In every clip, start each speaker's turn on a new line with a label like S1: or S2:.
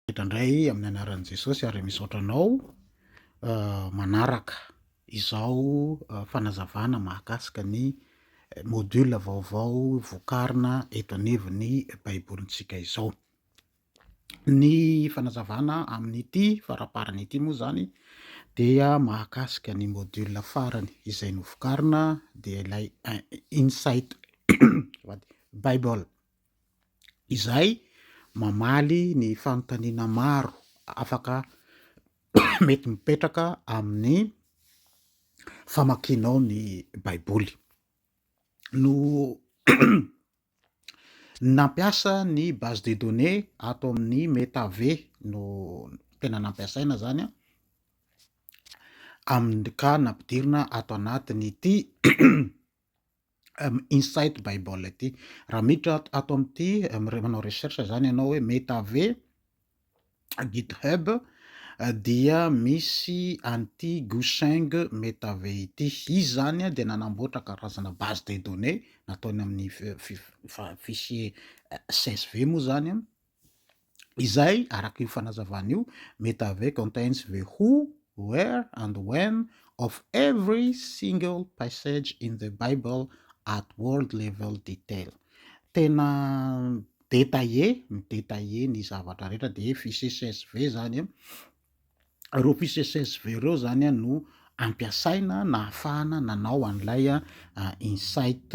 S1: Midra indray amin'ny anaran'i Jesosy ary misaotra anao manaraka izao fanazavana mahakasika ny module vaovao vokarina eto anivon'ny Baibolintsika izao. Ny fanazavana amin'ity faraparany ity moa izany dia mahakasika ny module farany izay novokarina dia ilay Insight Bible. izay mamaly ny fanontaniana maro afaka mety mipetraka amin'ny famakianao ny Baiboly. No nampiasa ny base de données ato amin'ny MetaV no tena nampiasaina zany an, amin'ny ka nampidirina ato anatin'ity insight bible ity raha miditra ato amin'ity manao recherche zany ianao hoe metave github dia misy an'ity guseng metave ity izy zany dia nanamboatra karazana base de données nataony amin'ny fichier csv moa zany Izay, araka io fanazavana io, Metave contains the who, where and when of every single passage in the Bible at world level detail. Tena détaillé, mi-détaillé ny zavatra rehetra dia fiche csv izany. reo PCSSV reo zany a no ampiasaina nahafahana nanao an'ilay insight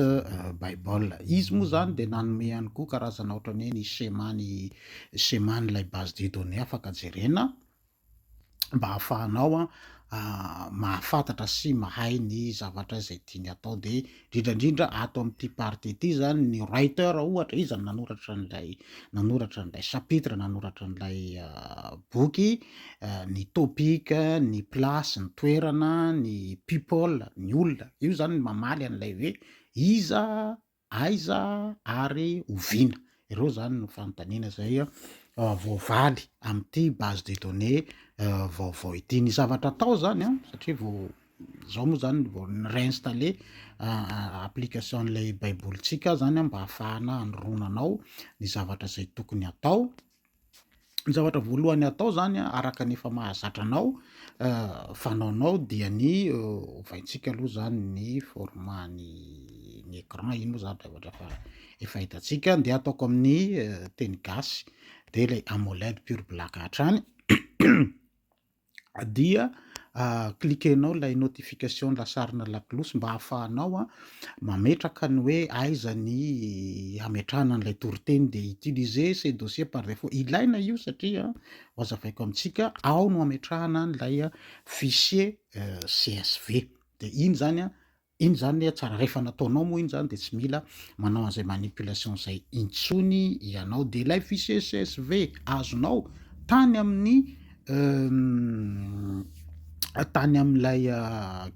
S1: bible izy moa zany de nanome ihany koa karazana ohatrany hoe ny schéma ny schéma n'ilay base de données afaka jerena mba hahafahanao a mahafantatra sy mahay ny zavatra izay tiany atao de indrindra indrindra ato amin'ity partie ity zany ny writer ohatra iza no nanoratra an'ilay nanoratra an'ilay chapitre nanoratra an'ilay ah, boky ah, ny topic ny place ny toerana ny people ny olona io zany mamaly an'ilay hoe iza aiza ary oviana Ireo izany no fanontaniana izay voavaly amin'ity base de données vaovao ity. Ny zavatra atao izany an, satria vao izao moa izany vao ni-réinstaller application-n'ilay baibolintsika izany an, mba hahafahana hanoronana ao ny zavatra izay tokony atao. Ny zavatra voalohany atao zany araka ny efa mahazatra anao fanaonao dia ny ovaintsika aloha zany ny format ny ny écran iny moa zany zavatra fa efa hitantsika de ataoko amin'ny teny gasy de le amoled pure black hatrany dia cliquer-nao ilay notification lasarina lakolosy mba hahafahanao mametraka ny hoe aiza ny hametrahana an'ilay toriteny dia utiliser ces dossiers par défaut. Ilaina io satria hazavaiko amintsika ao no hametrahana an'ilay fichier euh, CSV. Dia iny zany Iny zany anie tsara, rehefa nataonao moa iny zany dia tsy mila manao an'izay manipulation izay intsony ianao, dia ilay fichier csv azonao tany amin'ny tany amin'ilay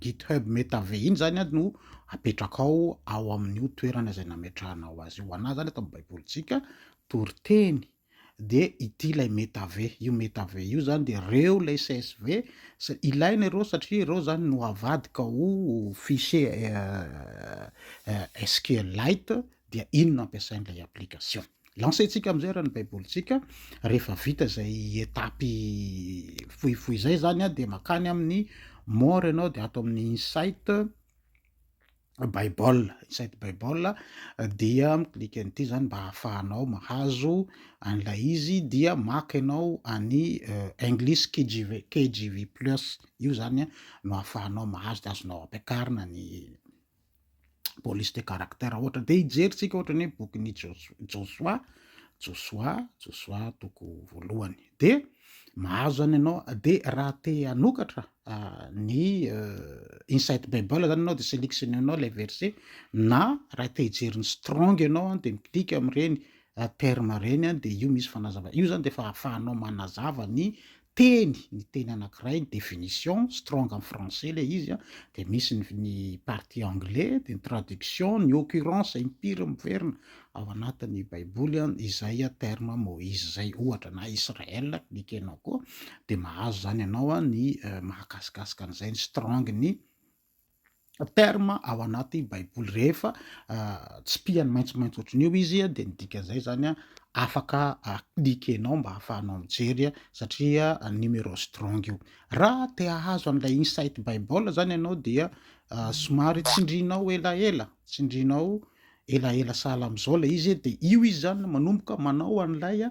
S1: github metave iny zany an no apetrakao ao amin'io toerana izay nametrahanao azy io, ho anah zany eto amin'ny baibolintsika toriteny. dia ity ilay metave, io metave io zany dia reo ilay csv, ilaina ireo satria ireo zany no avadika ho fichier SQLite dia iny no ampiasain'ilay application. Lancer-tsika amin'izay ary ny baibolintsika, rehefa vita izay etapy fohifohy izay zany dia makany amin'ny more ianao dia ato amin'ny insight, Bible, Insight Bible, dia mi-clique an'ity zany mba hahafahanao mahazo an'ilay izy, dia maka ianao any euh, English KJV, KJV Plus, io zany no hahafahanao mahazo, dia azonao ampiakarina ny police de caractère ohatra, dia hijerintsika ohatra ny hoe bokin'i Josoa, Josoa, Josoa toko voalohany. dia mahazo izany ianao dia raha te hanokatra ny insight bible izany ianao dia sélectionner anao ilay verset na raha te hijery ny strong ianao dia mi-click amin'ireny terme ireny an dia io misy fanazava io zany dia efa ahafahanao manazava ny teny ny teny anankiray ny définition strong en français le izy an dia misy ny partie anglais dia ny traduction ny occurrence impiry miverina Ao anatin ny baiboly izay terme Moïse izay ohatra na Israël ny ekenao koa dia mahazo izany ianao ny mahakasikasika an'izay ny strong ny terme ao anaty baiboly rehefa tsy pihany maintsomaintso ohatry ny eo izy dia ny dikan'izay izany afaka cliquenao mba hahafahanao mijery satria numéro strong io raha te hahazo an'ilay insight bible izany ianao dia somary tsindrinao elaela tsindrinao Elaela sahala amin'izao ilay izy e, dia io izy izany manomboka manao an'ilay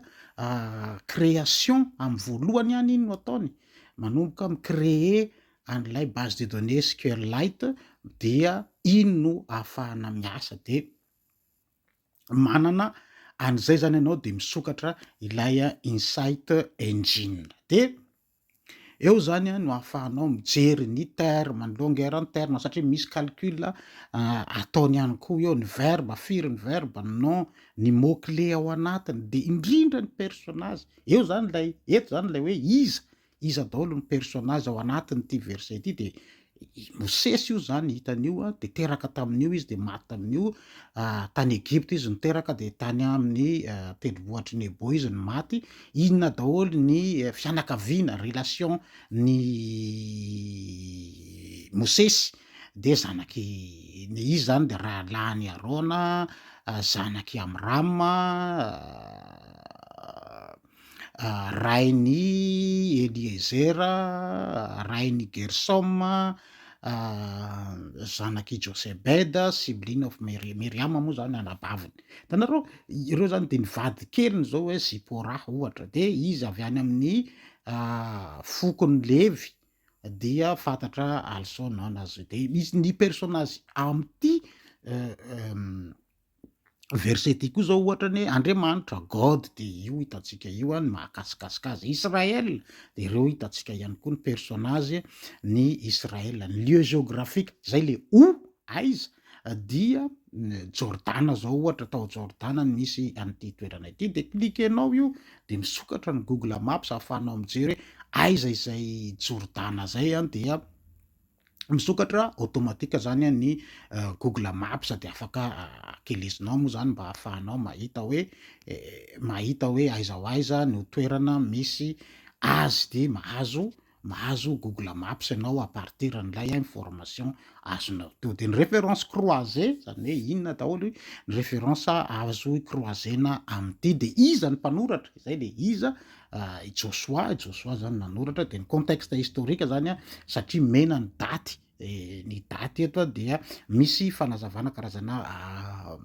S1: création amin'ny voalohany ihany iny no ataony, manomboka mi-créer an'ilay base de données SQLite dia iny no ahafahana miasa, dia manana an'izay izany ianao dia misokatra ilay Insight Engine, dia. Eo zany no ahafahanao mijery ny ter ma ny longueur ny terme satria misy calcul ataony ihany koa eo ny verbe firy ny verbe ny nom ny mot clé ao anatiny dia indrindra ny personnage eo zany ilay eto zany ilay hoe iza iza daholo ny personnage ao anatin'ity verset ity dia i Mosesy io zany hitany io a de teraka tamin'io izy de maty tamin'io tany Egypta izy no teraka de tany amin'ny tendrombohitry Nebo izy no maty inona daholo ny eh, fianakaviana relation ny Mosesy de zanaky ny izy zany de rahalahin'i Arona zanak'i Amrama rain' i Eliezera, rain' i Gersôma, zanak' i Jôsebeda, sibling of Meri-, Miriama moa zany anabaviny, hitanareo ireo zany de ny vadikeliny zao hoe Zipôrà ohatra, de izy avy any amin' ny fokon' ny Levy dia fantatra also known as, de misy ny persônazy amin' ity. verset ity koa izao ohatra ny hoe Andriamanitra, God, dia io hitantsika io ny mahakasikasika azy. Israël, dia ireo hitantsika ihany koa ny personnage ny Israël. Ny lieu géographique, izay le o, aiza, dia Jordana izao ohatra, tao Jordana no misy an'ity toerana ity, dia cliquer-nao io dia misokatra ny Google Maps ahafahanao mijery hoe aiza izay Jordana izay dia Misokatra automatique zany ny google maps dia afaka akelezinao moa zany mba hahafahanao mahita hoe mahita hoe aiza ho aiza no toerana misy azy dia mahazo mahazo google maps ianao à partir an'ilay information azonao teo. Dia ny référence croisée zany hoe inona daholo ny référence azo croiser-na amin'ity dia iza ny mpanoratra izay dia iza Ah, i Josoa, i Josoa zany nanoratra dia ny contexte historique zany a, satria mena ny daty, eh, ny daty eto a dia misy fanazavana karazana ah,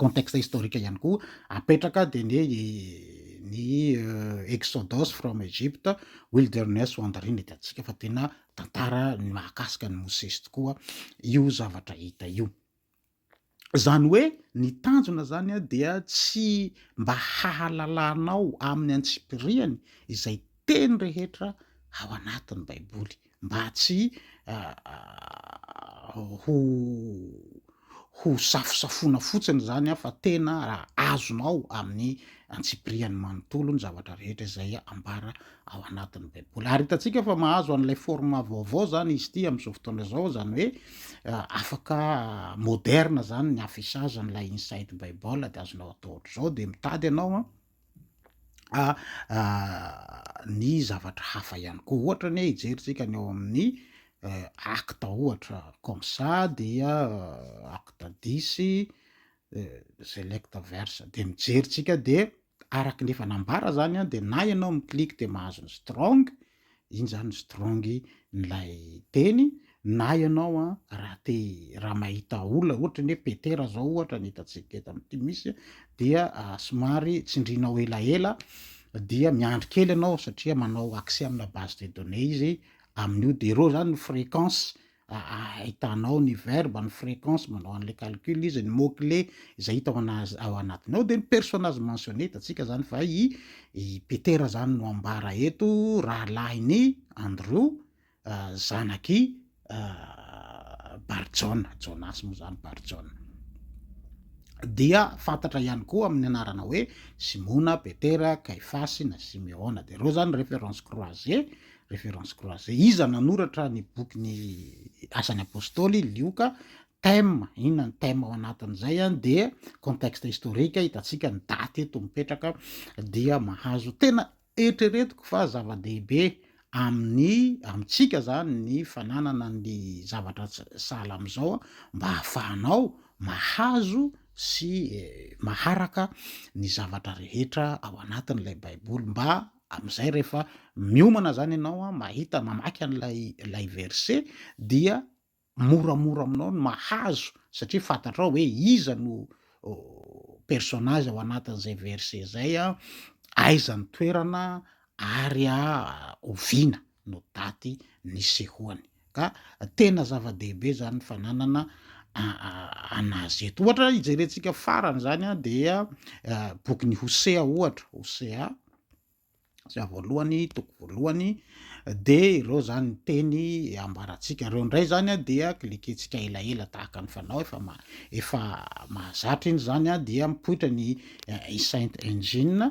S1: contexte historique ihany koa apetraka dia ny hoe ny eh, exodus from Egypt, wilderness wandering dia antsika fa tena tantara ny mahakasika ny Mosesy tokoa io zavatra hita io. Izany hoe ny tanjona izany dia tsy mba hahalalanao amin'ny antsipiriany izay teny rehetra ao anatin'ny Baiboly mba tsy ho ho safosafoana fotsiny izany fa tena azonao amin'ny antsipiriany manontolo ny zavatra rehetra izay ambara ao anatin'ny Baiboly. Ary hitantsika fa mahazo an'ilay forma vaovao izany izy ity amin'izao fotoana izao, izany hoe eh, afaka moderna izany ny afisazan'ilay Inside Bible dia azonao atao ohatr'izao, dia mitady ianao a ah, ah, ny zavatra hafa ihany koa. Ohatra ny hoe hijerintsika ny ao amin'ny eh, acte ohatra comme ça dia eh, acte disy eh, select verse dia mijerintsika dia Araka ny efa nambara zany dia na ianao mi-click dia mahazo ny strong, iny zany ny strong n'ilay teny, na ianao raha te raha mahita olona ohatra ny hoe Petera zao ohatra ny hitantsika eto amin'ity misy dia somary tsindrinao elaela dia miandry kely ianao satria manao accès amina base de données izy amin'io dia ireo zany ny fréquence Ahitana ao ny verbe, ny fréquence, manao an'ilay calcul izy, ny mot clé izay hita ao anatiny ao, dia ny personnage mentionné hitantsika izany fa i Petera izany no ambara eto, rahalahin'i Andrew, zanak'i Barjaona, Jonasy moa izany Barjaona. Dia fantatra ihany koa amin'ny anarana hoe Simona, Petera, Kaifasy na Simeona, dia ireo izany référence croisée Référence croisée, Iza nanoratra ny bokin'ny Asan'ny Apôstôly? Lioka. Thème, Inona ny thème ao anatin'izay? Dia contexte historique, hitantsika ny daty eto mipetraka, dia mahazo. Tena eritreretiko fa zava-dehibe amin'ny amintsika zany ny fananana ny zavatra sahala amin'izao mba hahafahanao mahazo sy maharaka ny zavatra rehetra ao anatin'ilay Baiboly mba Amin'izay rehefa miomana izany ianao a, mahita, mamaky an'ilay ilay verset dia moramora aminao ny mahazo satria fantatrao hoe iza no personnage ao anatin'izay verset izay a, aiza ny toerana ary a oviana no daty nisehoany. Ka tena zava-dehibe izany ny fananana an'azy eto. Ohatra hijerentsika farany izany dia bokin'i Hosea ohatra, Hosea zay voalohany toko voalohany dia ireo zany teny ambarantsika ireo indray zany dia klikentsika elaela tahaka ny fanao efa ma- efa mahazatra iny zany dia mipoitra ny eh, saint engine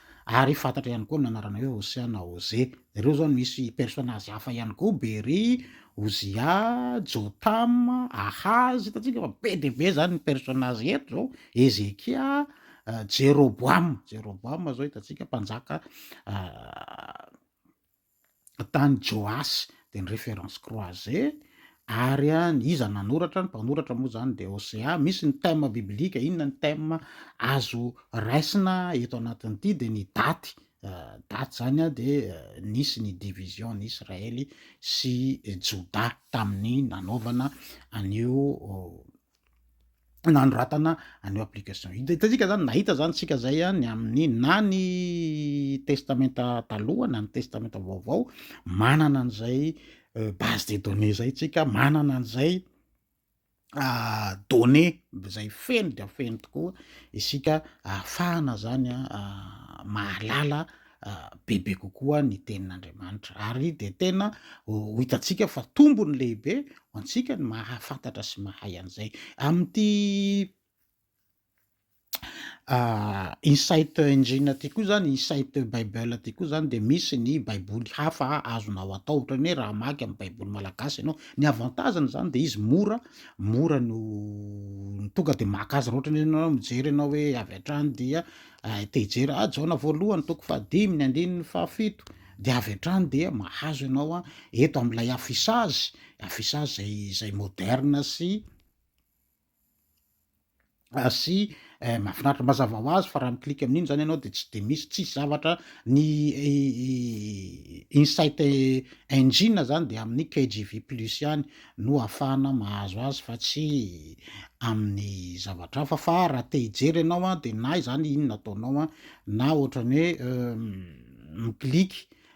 S1: Ary fantatra ihany koa ny anarana hoe Hosea na Hoze. Ireo izao no misy personnage hafa ihany koa, Beri, Ozia, Jotama, Ahazy, hitantsika fa be dia be izany ny personnage eto izao, Hezekia, Jeroboama, Jeroboama izao hitantsika mpanjaka tany Joasy dia ny référence croisé ary an iza nanoratra ny mpanoratra moa zany dia OCA misy ny thème biblique inona ny thème azo raisina eto anatin'ity dia ny daty daty zany an dia nisy ny division ny Israely sy Joda tamin'ny nanaovana an'io nanoratana an'io application io. De hitantsika zany nahita zany tsika zay a ny amin'ny na ny testamenta taloha na ny testamenta vaovao manana an'izay euh, base de données zay tsika manana an'izay ah, données zay feno dia feno tokoa isika ahafahana zany a ah, mahalala bebe kokoa ny Tenin'Andriamanitra. Ary dia tena ho hitantsika fa tombony lehibe ho antsika ny mahafantatra sy mahay an'izay. Amin'ity Ah, insight engine aty koa zany insight bible aty koa zany de misy ny baiboly hafa azonao atao ohatrany hoe raha maky amin'ny baiboly malagasy ianao ny avantageny zany de izy mora mora no tonga de maka azy raha ohatrany ianao mijery ianao hoe avy hatrany dia Raha te hijery ahy, Jaona voalohany, toko fahadimy, ny andininy fahafito, dia avy hatrany dia mahazo ianao an, eto amin'ilay afisazy, afisazy izay izay moderne sy ah, sy eh, mahafinaritra mazava ho azy fa raha mi-click amin'iny izany ianao dia tsy dia misy tsisy zavatra ny insight engine izany dia amin'ny KGV plus ihany no ahafahana mahazo azy fa tsy amin'ny zavatra hafa fa raha te hijery ianao a de na izany inona ataonao a na ohatran'ny hoe mi-click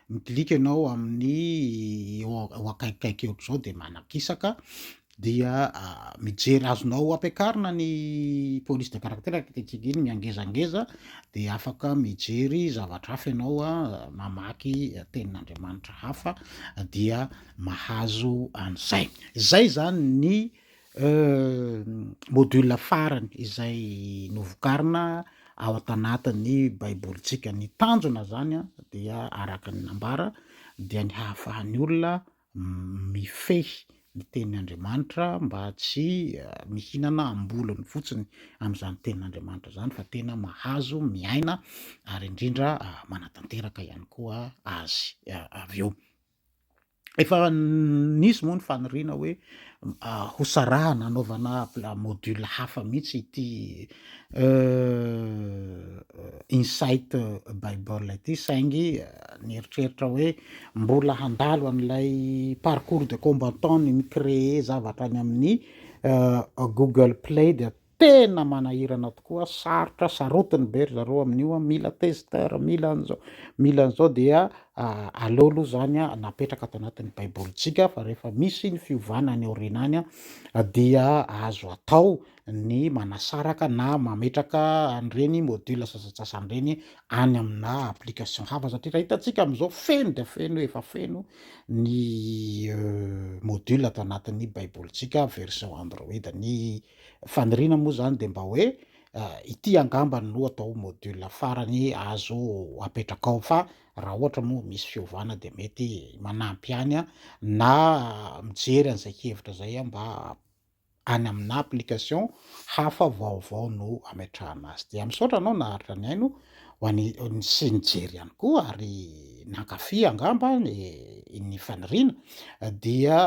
S1: mi-click ianao amin'ny eo eo akaikikaiky eo ohatr'izao de manakisaka dia mijery azonao ampiakarina ny police de caractère ankehitriny iny miangezangeza de afaka mijery zavatra hafa ianao a mamaky tenin'Andriamanitra hafa dia mahazo an'izay. Izay izany ny module farany izay novokarina ao an-tanatin'ny Baibolintsika. Ny tanjona izany dia araka ny nambara dia ny hahafahan'ny olona mifehy ny tenin'Andriamanitra mba tsy mihinana am-bolony fotsiny amin'izany tenin'Andriamanitra izany fa tena mahazo miaina ary indrindra manatanteraka ihany koa azy avy eo. Efa nisy moa ny faniriana hoe ho sarahana anaovana module hafa mihitsy ity insight bible ity saingy nieritreritra hoe mbola handalo an'ilay parcours de combattant ny mi-créer zavatra any amin'ny google play dia Tena manahirana tokoa, sarotra sarotiny be ry zareo amin'io an, mila tester, mila an'izao, mila an'izao dia aleo aloha izany napetraka ato anatin'ny baibolintsika fa rehefa misy ny fiovana any aoriana any dia azo atao ny manasaraka na mametraka an'ireny module sasantsasany ireny any amina application hafa satria raha hitantsika amin'izao feno dia feno efa feno ny euh, module ato anatin'ny baibolintsika version android ny Faniriana moa izany dia mba hoe ity angambany no atao module farany azo apetraka ao fa raha ohatra moa misy fiovana dia mety manampy ihany na mijery an'izay hevitra izay mba any amina application hafa vaovao no ametrahana azy. Dia misaotra anao naharitra nihaino. ho an'i sy nijery ihany koa ary nankafy angamba ny faniriana dia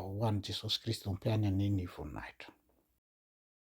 S1: ho an'i Jesosy Kristy Tompo ihany anie ny voninahitra.